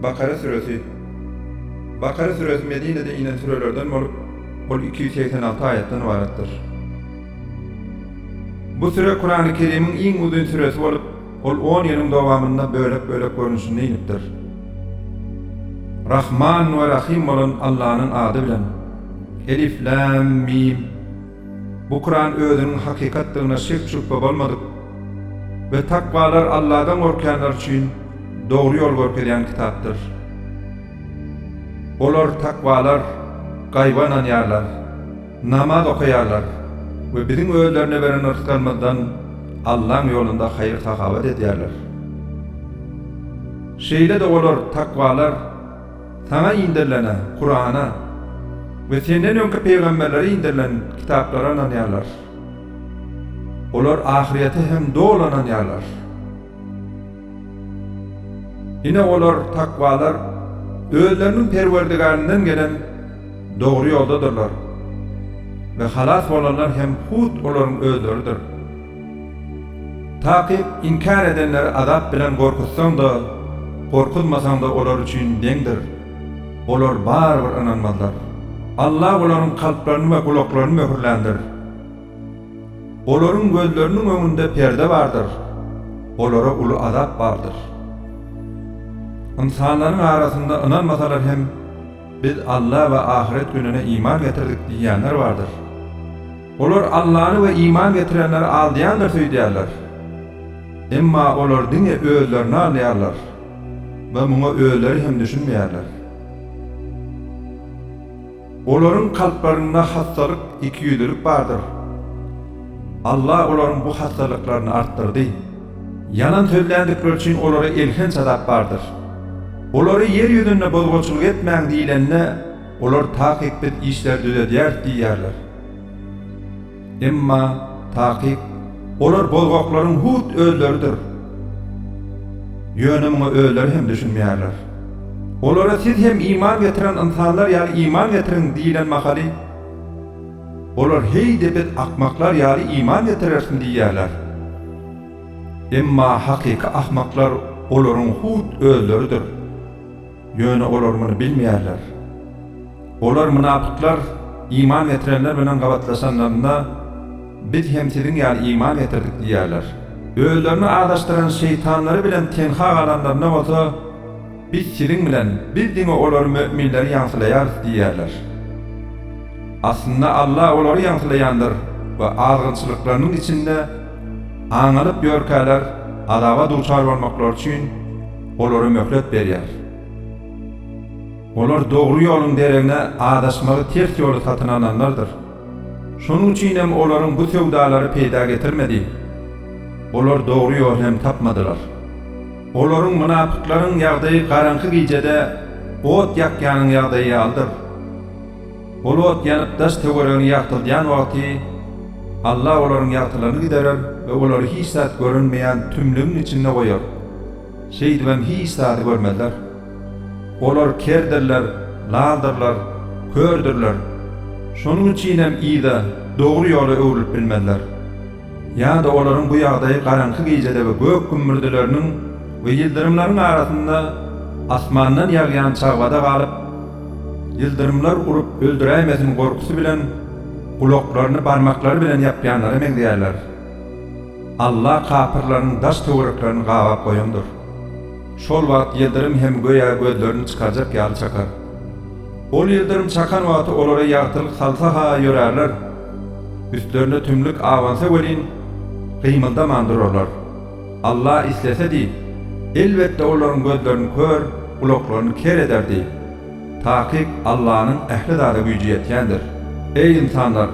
Bakara süresi Bakara süresi Medinede inen sürelerden bolup, ol iki ýüz segsen alty aýatdan ybaratdyr. Bu süre Kurany Kerimiň iň uzyn süresi bolup, ol on ýylyň dowamynda bölek-bölek görnüşinde inipdir. Rahman we Rahym bolan Allanyň ady bilen. Elif, Lam, Mim. Bu Kuran özüniň hakykatdygyna şek-şübhe bolmadyk we takwalar Alladan gorkýanlar üçin dogry ýol görkezýän kitapdyr. Olar, takwalar, gaýba ynanýarlar, namaz okaýarlar we Biziň özlerine beren rysgalymyzdan Allaň ýolunda haýyr-sahawat edýärler. Şeýle-de olar, takwalar, Saňa inderilene, Kurana, we senden öňki pygamberlere inderilen kitaplara ynanýarlar. Olar ahyrete hem doly ynanýarlar. Ine olar, takwalar, özleriniň Perwerdigärinden gelen dogry ýoldadyrlar. We halas bolanlar hem hut olaryň özleridir. Takyk inkär edenleri azap bilen gorkuzsaň-da, gorkuzmasaň-da olar üçin deňdir. Olar barybir ynanmazlar. Alla olaryň kalplaryny we gulaklaryny möhürländir. Olaryň gözleriniň öňünde perde bardyr. Olara uly azap bardyr. Ynsanlaryň arasynda ynanmasalar hem, Biz Alla we ahyret gününe iman getirdik diýýänler bardyr. Olar Allany we iman getirenleri aldaýandyr söýdýärler. Emma olar diňe özlerini aldaýarlar we muňa özleri hem düşünmeýärler. Olaryň kalplarynda hassalyk, ikiýüzlülik bardyr. Alla olaryň bu hassalyklaryny artdyrdy. Ýalan sözländikleri üçin olara elhenç azap bardyr. Olary ýer ýüzünde bozguçylyk etmäň diýlende, olar, Takyk biz işleri düzedýäris diýýärler. Emma, takyk, olar bozgaklaryň hut özleridir. Ýöne muňa özleri hem düşünmeýärler. Olara siz hem iman getiren ynsanlar ýaly iman getiriň diýilen mahaly, olar heý-de biz akmaklar ýaly iman getirersiň diýýärler. Emma hakyky ahmaklar olaryň hut özleridir. Ýöne olar muny bilmeýärler. Olar, mynapyklar, iman getirenler bilen gabatlaşanlarynda, Biz hem siziň ýaly iman getirdik diýýärler. Özlerini azaşdyran şeýtanlary bilen tenha galanlarynda bolsa, Biz siziň bilen, biz diňe olary, möminleri, ýaňsylaýarys diýýärler. Aslynda Alla olary ýaňsylaýandyr we azgynçylyklarynyň içinde aňalyp ýörkäler, azaba duçar bolmaklary üçin, olara möhlet berýär. Olar dogry ýoluň deregine azaşmagy ters ýoly satyn alanlardyr. Şonuň üçin hem olaryň bu söwdalary peýda getirmedi. Olar dogry ýoly hem tapmadylar. Olaryň, mynapyklaryň, ýagdaýy garaňky gijede ot ýakýanyň ýagdaýy ýalydyr. Ol ot ýanyp daş töweregini ýagtyldýan wagty, Alla olaryň ýagtylygyny giderer we olary hiç zat görünmeýän tümlügiň içinde goýar. Şeýdibem hiç zady görmezler. Olar kerdirler, laldyrlar, kördürler. Şonuň üçinem yza, dogry ýola öwrülip bilmezler. Ýa-da olaryň bu ýagdaýy garaňky gijede we gök gümmürdileriniň we ýyldyrymlaryň arasynda asmandan ýagýan çagbada galyp, ýyldyrymlar urup öldüräýmesin gorkusy bilen gulaklaryny barmaklary bilen ýapýanlara meňzeýärler. Alla kapyrlaryň daş-töwereklerini gabap goýandyr. Şol wagt ýyldyrym hem göýä gözlerini çykarjak ýaly çakar. Ol ýyldyrym çakan wagty olara ýagtylyk salsa-ha ýörärler. Üstlerine tümlük abansa welin, gymyldaman durarlar. Alla islese diýip, elbetde olaryň gözlerini kör, gulaklaryny ker ederdi. Takyk Allanyň ähli zada güýji ýetýändir. Eý ynsanlar!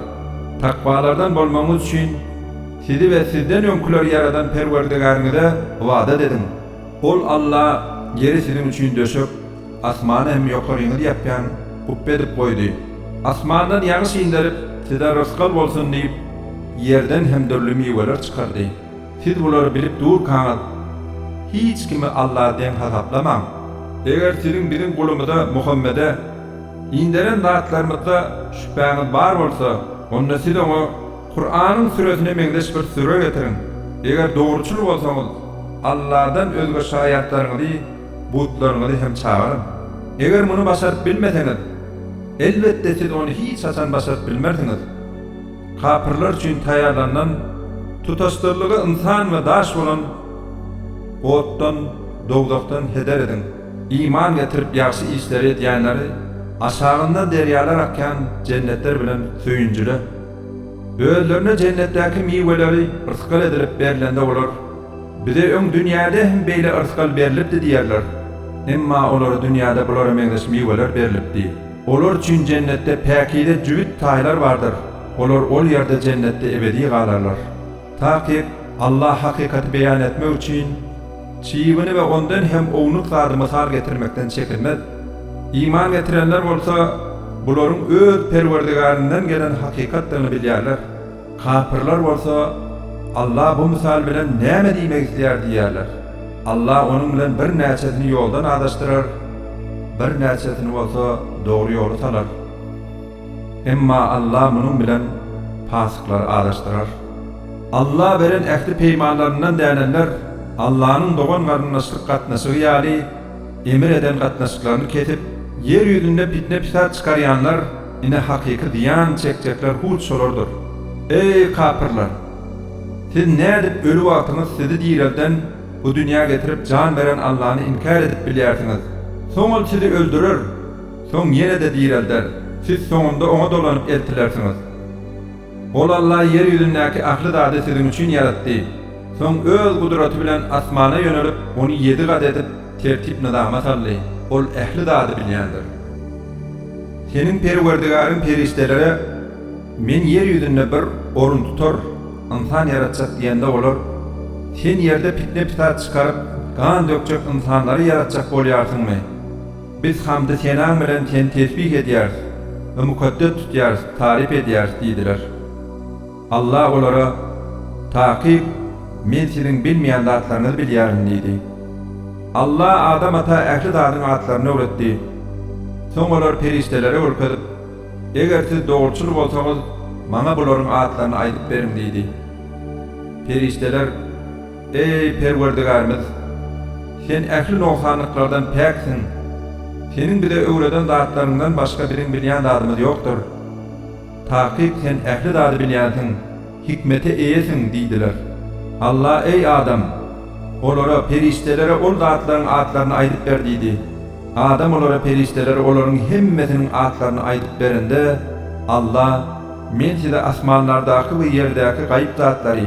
Takwalardan bolmagyňyz üçin, sizi we sizden öňküleri ýaradan Perwerdigäriňize ybadat ediň. Ol Alla ýeri siziň üçin döşek, Asmany hem ýokaryňyz ýapýan gupba edip goýdy. Asmandan ýagyş inderip, size rysgal bolsun diýip, ýerden hem dürli miweler çykardy. Siz bulary bilip durkaňyz, hiç kimi Alla deň hasaplamaň. Eger siziň biziň gulumyza, Muhammede, inderen zatlarymyzda şübhäňiz bar bolsa, onda siz oňa Kuranyň süresine meňzeş bir süre getiriň. Eger dogruçyl bolsaňyz, Alladan özge şaýatlaryňyzy, Butlaryňyzy hem çagyryň. Eger muny başaryp bilmeseňiz, elbetde siz ony hiç haçan başaryp bilmersiňiz. Kapyrlar üçin taýýarlanylan, tutaşdyrlygy ynsan we daş bolan otdan, dowzahdan, heder ediň. Iman getirip ýagşy işleri edýänleri aşagyndan derýalar akýan jennetler bilen söýünjile. Özlerine jennetdäki miweleri rysgal edilip berlende olar. Bize öň dünýäde hem beýle yrsgal berlipdi diýerler. Emma olara dünýäde bulara meňzeş miweler berlipdi. Olar üçin Jennetde päkize jübüt taýlar bardyr. Olar ol ýerde Jennetde ebedi galarlar. Takyk, Allah hakykaty beýan etmek üçin, çybiny we ondan hem ownuk zady mysal getirmekden çekinmez. Iman getirenler bolsa, bularyň öz Perwerdigärinden gelen hakykatdygyny bilýärler. Kapyrlar bolsa, Allah bu mysal bilen näme diýmek isleýär diýerler. Allah onuň bilen birnäçesini ýoldan azaşdyrar, birnäçesini bolsa dogry ýoly salar. Emma Allah munuň bilen pasyklary azaşdyrar. Allah beren ähli peýmanlaryndan dänenler Allahnyň dogan-garyndaşlyk gatnaşygy ýaly emr eden gatnaşyklaryny kesip, ýer ýüzünde pitne-pisat çykarýanlar, Ine hakyky zyýan çekjekler hut şolardyr. Eý, kapyrlar! Siz nädip öli wagtyňyz sizi direlden, bu dünýä getirip jan beren Allany inkär edip bilýärsiňiz? Soň Ol sizi öldürer, soň ýene-de direlder, siz soňunda Oňa dolanyp eltilersiňiz. Ol Alla ýer ýüzündäki ähli zady siziň üçin ýaratdy. Soň Öz gudraty bilen asmana ýönelip, ony ýedi gat edip, tertip-nyzama saldy. Ol ähli zady bilýändir. Seniň Perwerdigäriň perişdelere, Men ýer ýüzünde bir orun tutar, ynsan ýaratjak diýende olar, Sen ýerde pitne-pisat çykaryp, gan dökjek ynsanlary ýaratjak bolýarsyňmy? Biz hamdy senaň bilen Seni tesbih edýäris we mukaddes tutýarys, taryp edýäris diýdiler. Alla olara, Takyk, Men siziň bilmeýän zatlaryňyzy bilýärin diýdi. Alla Adam ata ähli zadyň atlaryny öwretdi. Soň olar perişdelere görkezip, Eger siz dogruçyl bolsaňyz, maňa bularyň atlaryny aýdyp beriň diýdi. Perişdeler, Eý, Perwerdigärimiz! Sen ähli nogsanlyklardan päksiň. Seniň bize öwreden zatlaryňdan başga biziň bilýän zadymyz ýokdur. Takyk Sen ähli zady bilýänsiň, hikmete eýesiň diýdiler. Alla, Eý, adam! Olara, perişdelere ol zatlaryň atlaryny aýdyp ber diýdi. Adam olara, perişdelere olaryň hemmesiniň atlaryny aýdyp berende, Alla, Men size asmanlardaky we ýerdäki gaýyp zatlary,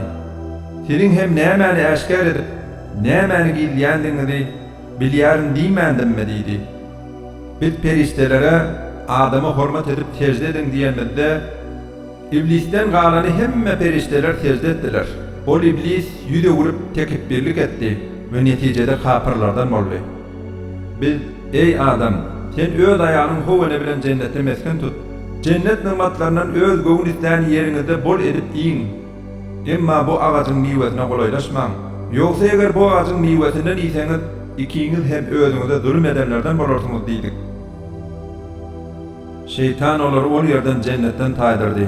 Siziň hem nämäni äşgär edip, nämäni gizleýändigiňizi bilýärin diýmändimmi? diýdi. Biz perişdelere, Adama hormat edip sežde ediň diýenimizde, Iblisden galany hemme perişdeler sežde etdiler. Ol Iblis ýüz öwrüp, tekepbirlik etdi we netijede kapyrlardan boldy. Biz, Eý, Adam, sen öz aýalyň Howana bilen jennetde mesgen tut. Jennet nygmatlaryndan öz göwün islän ýeriňizde bol edip iýiň. Emma bu agajyň miwesine golaýlaşmaň, ýogsa eger bu agajyň miwesinden iýseňiz, ikiňiz hem özüňize zulum edenlerden bolarsyňyz diýdik. Şeýtan olary ol ýerden jennetden taýdyrdy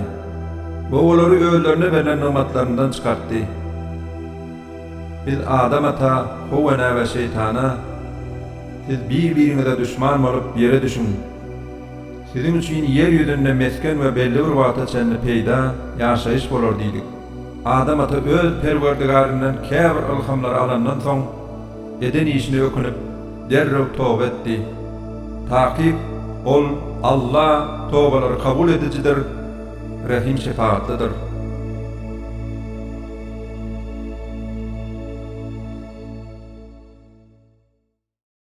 we olary özlerine berlen nygmatlaryndan çykartdy. Biz Adam ata, How enä we Şeýtana, Siz bir-biriňize duşman bolup, ýere düşüň! Siziň üçin ýer ýüzünde mesgen we belli bir wagta çenli peýda, ýaşaýyş bolar diýdik. Adam ata öz Perwerdigäryndan käbir ylhamlary alandan soň, eden işine ökünip, derrew toba etdi. Takyk, Ol, Alla, tobalary kabul edijidir, rehim-şepagatlydyr.